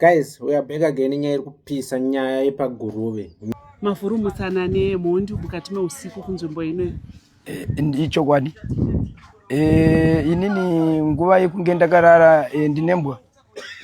guys we are back again nyaya iri kupisa nyaya yepaguruve mavhuru mutsanane mhondi mukati meusiku kunzvimbo ino eh, ndichokwadi eh, inini nguva yekunge ndakarara eh, ndinembwa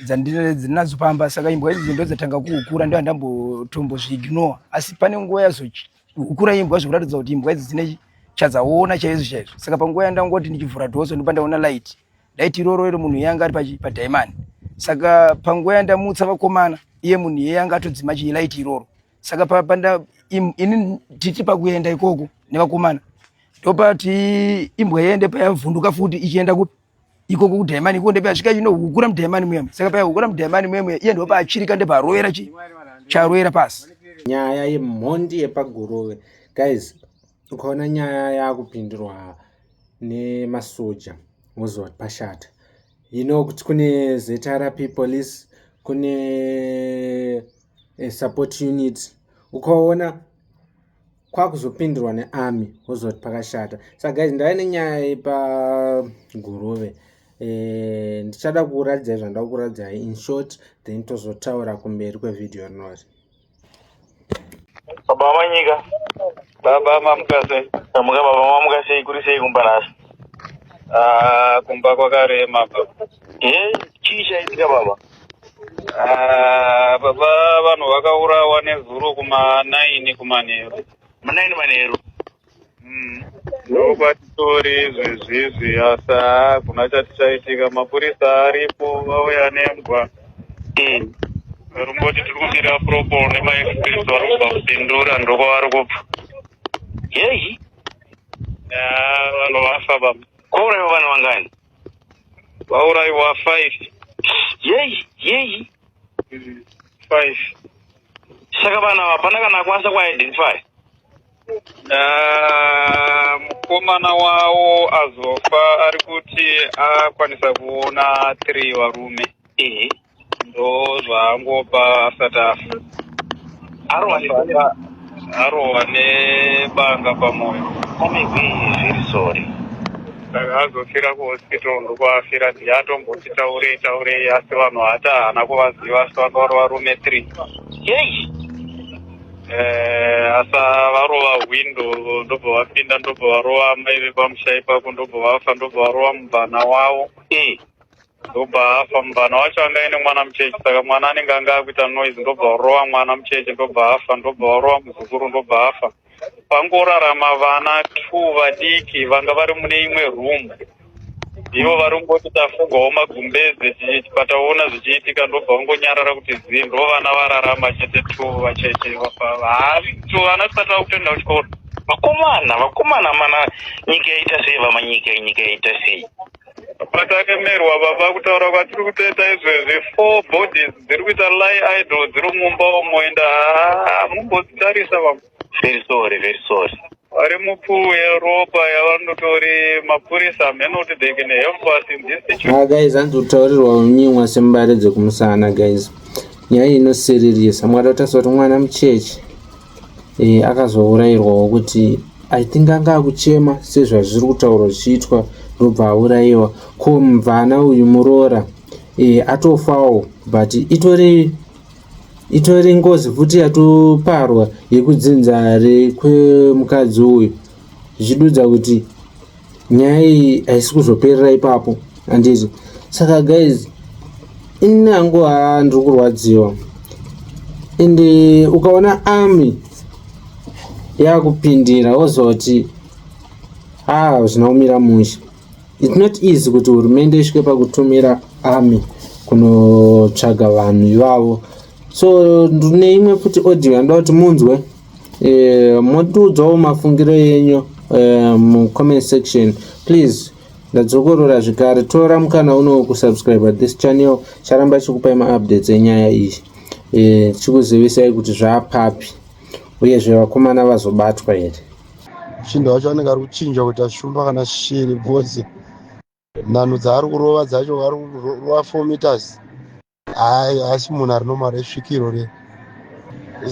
dzandinadzo pamba saka imbwa idzi ndo dzatanga kuhukura ndo andambotombozviignore asi pane nguva yazohukura imbwa zvikuratidza kuti imbwa idzi dzine chadzaona chaizvo chaizvo saka panguva yandangoti ndichivhura dhoso ndopandaona light daiti iroro iro munhu yanga ari padaimani saka panguva yandamutsa vakomana iye munhu iye yanga atodzima chilaiti iroro saka papanda ini titi pakuenda ikoko nevakomana ndopati imbwa yende payavhunduka futi ichienda kupi ikoko kudaimani ikoko ndepayasvika inohukura mudaimani muyemu saka payahukura mudaimani muyemu iye ndopaachirika ndeparovera chi charovera pasi nyaya yemhondi yepagurove guys ukaona nyaya yakupindurwa nemasoja woziva kuti pashata you know kuti kune zrp police kune eh, support unit ukaona kwakuzopindurwa nearmy woziva kuti pakashata sa guys ndave nenyaya yepagurove eh, ndichada kuuratidzai zvandakukuradziai in short then tozotaura kumberi kwevhidhiyo rinori Baba vamanyika. Baba mamukase. Tamuka baba mamuka sei kuri sei kumba nhasi? Ah, kumba kwakarema baba. Eh, chii chaitika baba? Ah, baba vanhu vakaurawa nezuro kuma 9 kumanheru. Manaini manheru. Mm. Ndokwatitori zvezvizvi asa kuna chatichaitika mapurisa aripo vauya nembwa Mm. rumboti tiri kudira propol nemaexpress vari kubva kudhindura ndokwavari kubva Yei. Ah, vanhu vafa baba Kwauraiwa vanhu vangani? vauraiwa five Yei. Yei. Mm. five Saka vanhu ava hapana kana akwanisa kuidentify. Ah, mukomana wawo azofa ari kuti akwanisa kuona three varume ehe ndo zvaangopa asati afa arova nebanga arova nebanga pamoyo komigwi zviri sori saka azofira kuhospital ndokuafira ndiye atomboti taurei taurei asi vanhu hata haana kuvaziva asi vakava varume three yei Eh, asa varova hwindo ndobva vapinda ndobva varova amai vepamusha ipapo ndobva vafa ndobva varova mubvana wavo mm. ndobva afa mubvana wacho anga aine mwana mucheche saka mwana anenge anga akuita noise ndobva varova mwana mucheche ndobva afa ndobva varova muzukuru ndobva afa pangorarama vana two vadiki vanga vari mune imwe room ivo varungu voti tafungawo magumbeze pataona zvichiitika ndobva vangonyarara kuti zii ndo vana vararama chete tu vacheche vaato vana tisati vakutoenda kuchikoro vakomana vakomana mana nyika yaita sei vamanyika nyika yaita sei patakemerwa baba kutaura kwatiri kutoita izvezvi four bodies dziri kuita lie idol dziri mumba umo enda hamumbodzitarisa baba very sorry very sorry vari mupuwe ropa yavandotori mapurisa hameno kuti they can help us in this situation ah guys hanzi kutaurirwa unyimwa sembare dzekumusana guys nyaya inosiririsa mwari vatarisa kuti mwana mucheche e, akazourairwawo kuti i think anga akuchema sezvazviri kutaurwa zvichiitwa ndobva aurayiwa ko mvana uyu muroora e, atofawo but itori itori ngozi futi yatoparwa yekudzinzare kwemukadzi uyu zvichidudza kuti nyaya iyi haisi kuzoperera ipapo handiti saka guys ini hangu haa ndiri kurwadziwa and ukaona army yakupindira wozoti haa zvinaumira mushe It's not easy kuti hurumende isvike pakutumira army kunotsvaga vanhu ivavo so ndine imwe futi audio yandoda kuti munzwe eh, motiudzawo mafungiro yenyu eh, mucomment section please ndadzokorora zvekare tora mukana uno kusubscribe this channel charamba chikupai maupdates enyaya iyi eh, chikuzivisai kuti zvaapapi uyezve vakomana vazobatwa here Chinda wacho anenge ari kuchinja kuti ashumba kana shiri because nhanho dzaari kurova dzacho ari kurova four meters hayi haasi munhu ari normal resvikiro re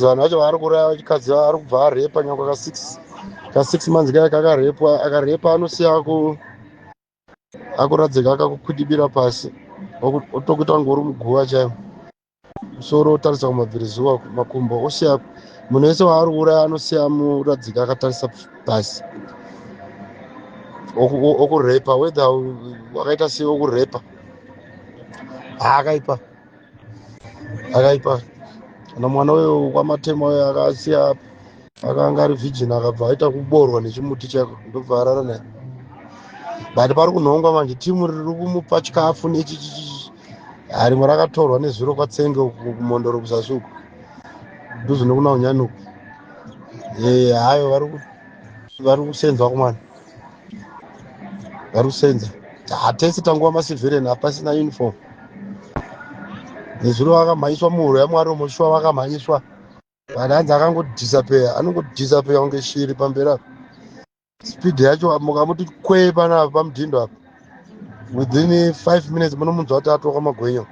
vanhu vacho vaari kuraya vachikadzi ari kubva arepa nyangwe ka six ka six months kaya kakarepwa akarepa anosiya aku akuradzika akakukwidibira pasi otokuita kunge uri muguva chaimo musoro otarisa kumabvirizuva makumbo osiya munhu wese waari kuuraya anosiya muradzika akatarisa pasi okurepa whether wakaita sei okurepa haakaipa akaipa kana mwana weyo kwamatema weyo akasiya akanga ari virgin akabva aita kuboorwa nechimuti chako ndobva arara naye but pari kunhongwa manje timu riri kumupa chikafu nechichichichi Ah, rimwe rakatorwa nezuro kwatsenge uku kumondoro kuzasi uku dhuze nokuna unyani uku Eh, hayo vari ku- vari kusenzwa kumwana vari kusenza hatese tanguva masivheren hapasina uniform nezuro vakamhanyiswa muhuro yamwari umo shuwa vakamhanyiswa Kana hanzi akangodisappear anongodisappear kunge shiri pamberi apa. Speed yacho mukamuti kwee panapa pamudhindo apa. Within 5 minutes munomunzwa kuti atoka magwenyo.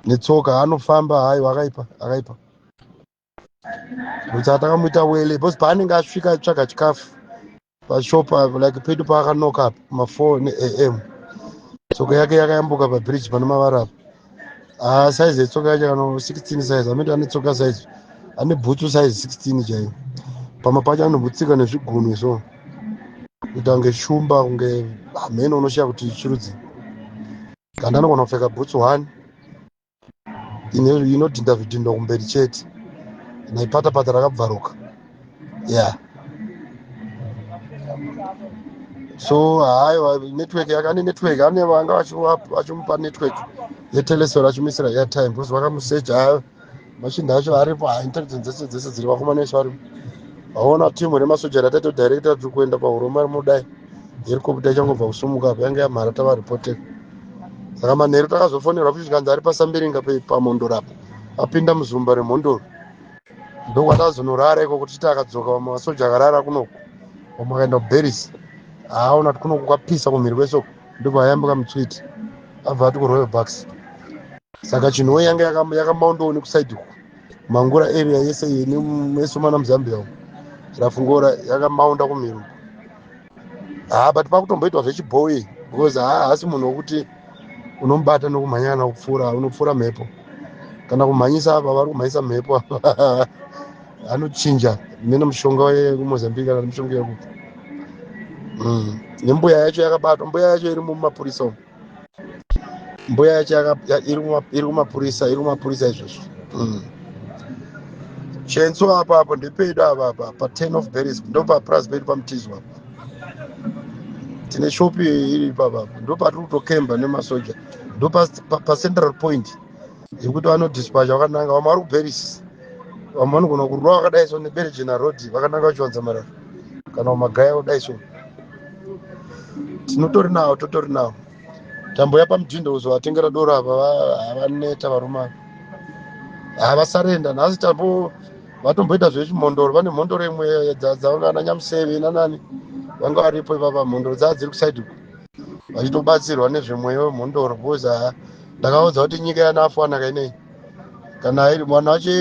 Netsoka anofamba hayo akaipa akaipa. Kuti atakamuita wele because paanenge asvika tsvaga chikafu pashop apo like pedu paakanoka apo ma 4 neam tsoka yake yakayambuka pabridge pane mavara apo ah, size yetsoka yacho kana 16 size amiti ane tsoka size ane bhutsu size 16 chaiyo pamwe pacho anobutsika nezvigunwe so kuita kunge shumba kunge hameno unoshiya kuti chirudzii kana anogona kupfeka bhutsu one inodhinda zvidhindo kumberi chete naipatapata rakabvaruka yeah so haiwa network yakane network ane vanga vachimupa network yetelesor achimuisira airtime because vakamusecha hayo machinda acho aripo ha intelligence dzese dzese dziri vakomana isu aripo vaona timu remasoja rataito director tiri kuenda pahuromari mudai iri kobuda ichangobva kusumuka apo yange yamhara tavaripoteka saka manheru takazofonerwa futi zvikanzi ari pasambiringa pamhondoro apo apinda muzumba remhondoro ndokwatazonorara iko kuti chiti akadzoka vamwe vasoja akarara kunoku vamwe akaenda kuberisi haaona kuti kunoku kwapisa kumhiri kwesoko ndobva ayambuka mutswiti abva ati kuroyal bucks saka chinhowe yange yakamaondowo nekusaidi uku mangura area yese yene mesomana muzambia uku rafungora yakamaonda kumhiri uku haa but pakutomboitwa zvechibhoyi because haasi munhu wokuti unomubata nokumhanya kana kupfuura unopfuura mhepo kana kumhanyisa apa vari kumhanyisa mhepo apa anochinja mene mushonga wekumozambique kana mushonga yekupi mm. nembuya yacho yakabatwa mbuya yacho iri mumapurisa umu mbuya yacho iri kumapurisa iri kumapurisa izvozvo mm. chenso apa apo ndepedu apa apa pa ten of berries ndopapras pedu pamutizo apa tine shopi iri papa ndopatiri kutokemba nemasoja ndopacentral point yekuti vanodispacha vakananga vamwe vari kuberis vamwe vanogona kurwa vakadai so neberejena road vakananga vachiwanza marara kana magaya kudai so tinotori nawo totori nawo tamboya pamudhindo uzovatengera doro ava havaneta varume ava havasarenda nhasi tambo vatomboita zvechimhondoro vane mhondoro imwe dzavanga ana nyamuseve nanani vanga varipo ivava mhondoro dzava dziri kusaidi uku vachitobatsirwa nezvemweya wemhondoro bcause ndakaudza kuti nyika yanafanaka inei kana airi mwana wacho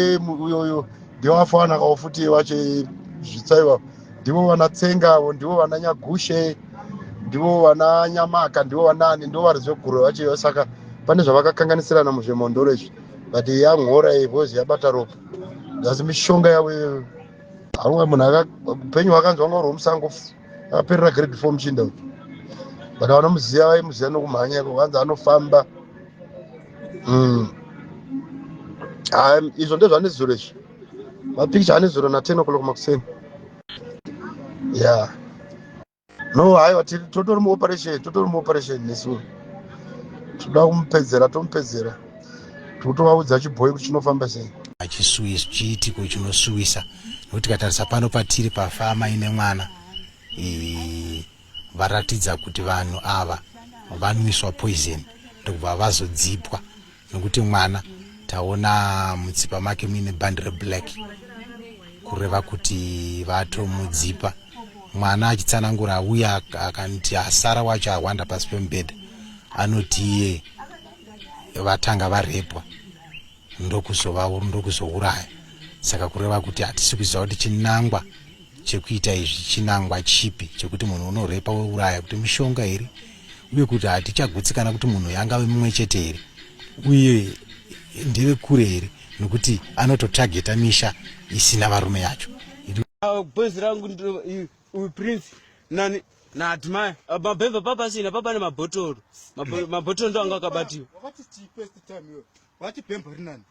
uyoyo ndewafana kawo futi wacho zvitsaiwa ndivo vana tsenga avo ndivo vana nyagushe ndivo vana nyamaka ndivo vanani ndivo vari zveguro vacho ivo saka pane zvavakakanganisirana muzvemondoro izvi but yamhora because yabata ropa asi mishonga yavo iyoyo haunga munhu upenyu hwakanzwa ngauri womusango aperera grade four muchinda uyu but vanomuziva vaimuziva nokumhanya iko vanzi anofamba mm. izvo ndezvane zuro izvi mapikicha ane zuro na ten o'clock makuseni ya no haiwa totori muoperation totori muoperation nesu toda kumupedzera tomupedzera totovaudza chibhoyi kuti chinofamba sei achisuwisa chiitiko chinosuwisa nokuti tikatarisa pano patiri pafama ine mwana varatidza kuti vanhu ava vanwiswa poison ndokubva vazodzipwa nokuti mwana taona mutsipa make muine bhandi reblack kureva kuti vatomudzipa mwana achitsanangura uye akanti asara wacho ahwanda pasi pemubhedha anoti iye vatanga varepwa ndokuzovaur ndokuzouraya saka kureva kuti hatisi kuziva kuti chinangwa chekuita izvi chinangwa chipi chekuti munhu unorepa weuraya kuti mishonga here uye kuti hatichagutsikana kuti munhu yangave mumwe chete here uye ndeve kure here nokuti anototageta misha isina varume yacho bhezi rangu uyu prince nani naadmire ah, mabhemba papasina papa nemabhotoro mabhotoro ndo anga akabatiwa vati bhemba rinani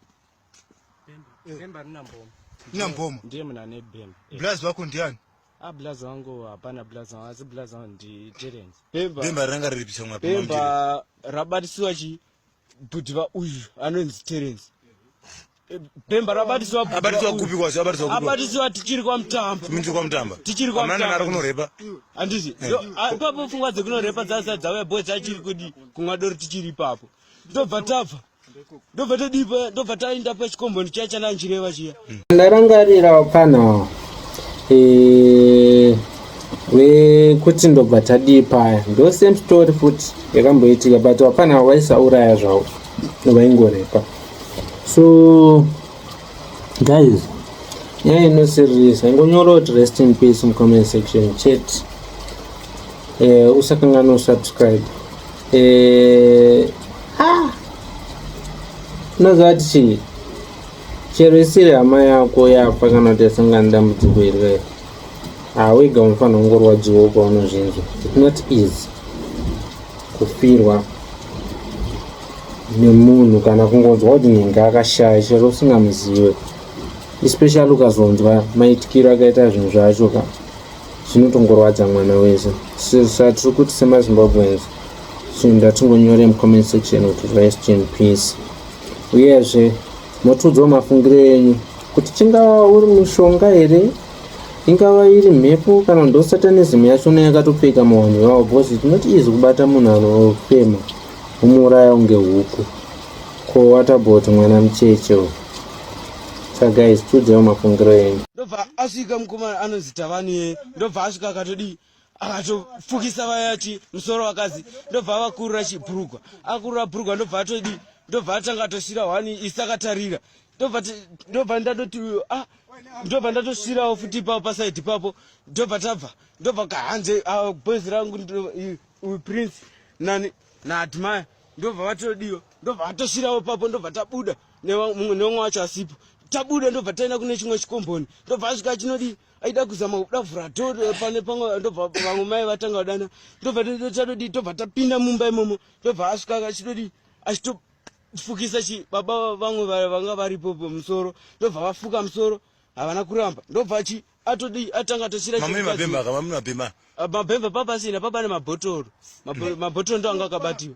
bhemba eh. rina mboma rina mboma ndiye muna ane bhemba eh. blazi wako ndiani a ah, blazi wangu hapana blazi wangu asi blazi wangu ndi terence bhemba ranga riripiswa mapemba rabatisiwa chii bhudhi vauyu anonzi terence bhemba rabatiswa abatiswa kupi kwazvo abatiswa kupi abatiswa tichiri kwa mtamba tichiri kwa mtamba tichiri kwa mtamba ari kunorepa andisi eh. ah, papo pfungwa dzekunorepa dzasa dzauya boys achiri kudi kunwa doro tichiri ipapo ndobva tabva ndobva tadipa ndobva taenda pachikombondi chiya chananjireva chiya ndarangarirawo panhawa eh, wekuti ndobva tadii paya ndo same story futi yakamboitika but hapana waisauraya zvavo novaingorepa so guys nyaya inosirisa ingonyora kuti rest in peace mucomment section chet uh, eh, usakangana usubscribe uh, ah, unoziva kuti chii chero isiri hama yako yafa kana kuti yasangana nedambudziko irwere hawega unofanira kungorwadziwa kwaunozvinzwa it not easy kufirwa nemunhu kana kungonzwa kuti nhinga akashaya chero usingamuzive especially ukazonzwa maitikiro akaita zvinhu zvacho ka zvinotongorwadza mwana wese satiri kuti semazimbabweans so ndatingonyore mucomment section kuti rest in peace Uyezve, motiudzawo mafungiro enyu kuti chingava uri mushonga here ingava iri mhepo kana ndo satanism yacho neyakatopfeka mawanhu vawo bcause tinoti izi kubata munhu anofema umuuraya unge huku ko watabot mwana mucheche u sagais tiudzaiwo mafungiro enyu ndobva asvika mukomana anonzi tavani ye ndobva asvika akatodii akatofukisa vaya chi musoro vakadzi ndobva avakurura chibhurugwa akurura bhurugwa ndobva atodi ndobva atanga atosvira wani isi akatarira ndobva ndatoti ah ndobva ndatosvirawo futi ipapo pasaidi ipapo ndobva tabva ndobva kahanze ah, boys rangu uyu prince nani naadmire ndobva vatodiwa ndobva vatosvirawo ipapo ndobva tabuda nemumwe wacho asipo tabuda ndobva taenda kune chimwe chikomboni ndobva asvika chinodii aida kuzama kuda vhura to pane pamwe ndobva vamwe mai vatanga kudana ndobva tatodii tobva tapinda mumba imomo tobva asvika achitodii achito fukisa chi baba vamwe vanga varipo musoro ndobva vafuka musoro havana kuramba ndobva chi atodi atanga tochira mabhemba papasina papane mabhotoro mabhotoro ndo anga akabatiwa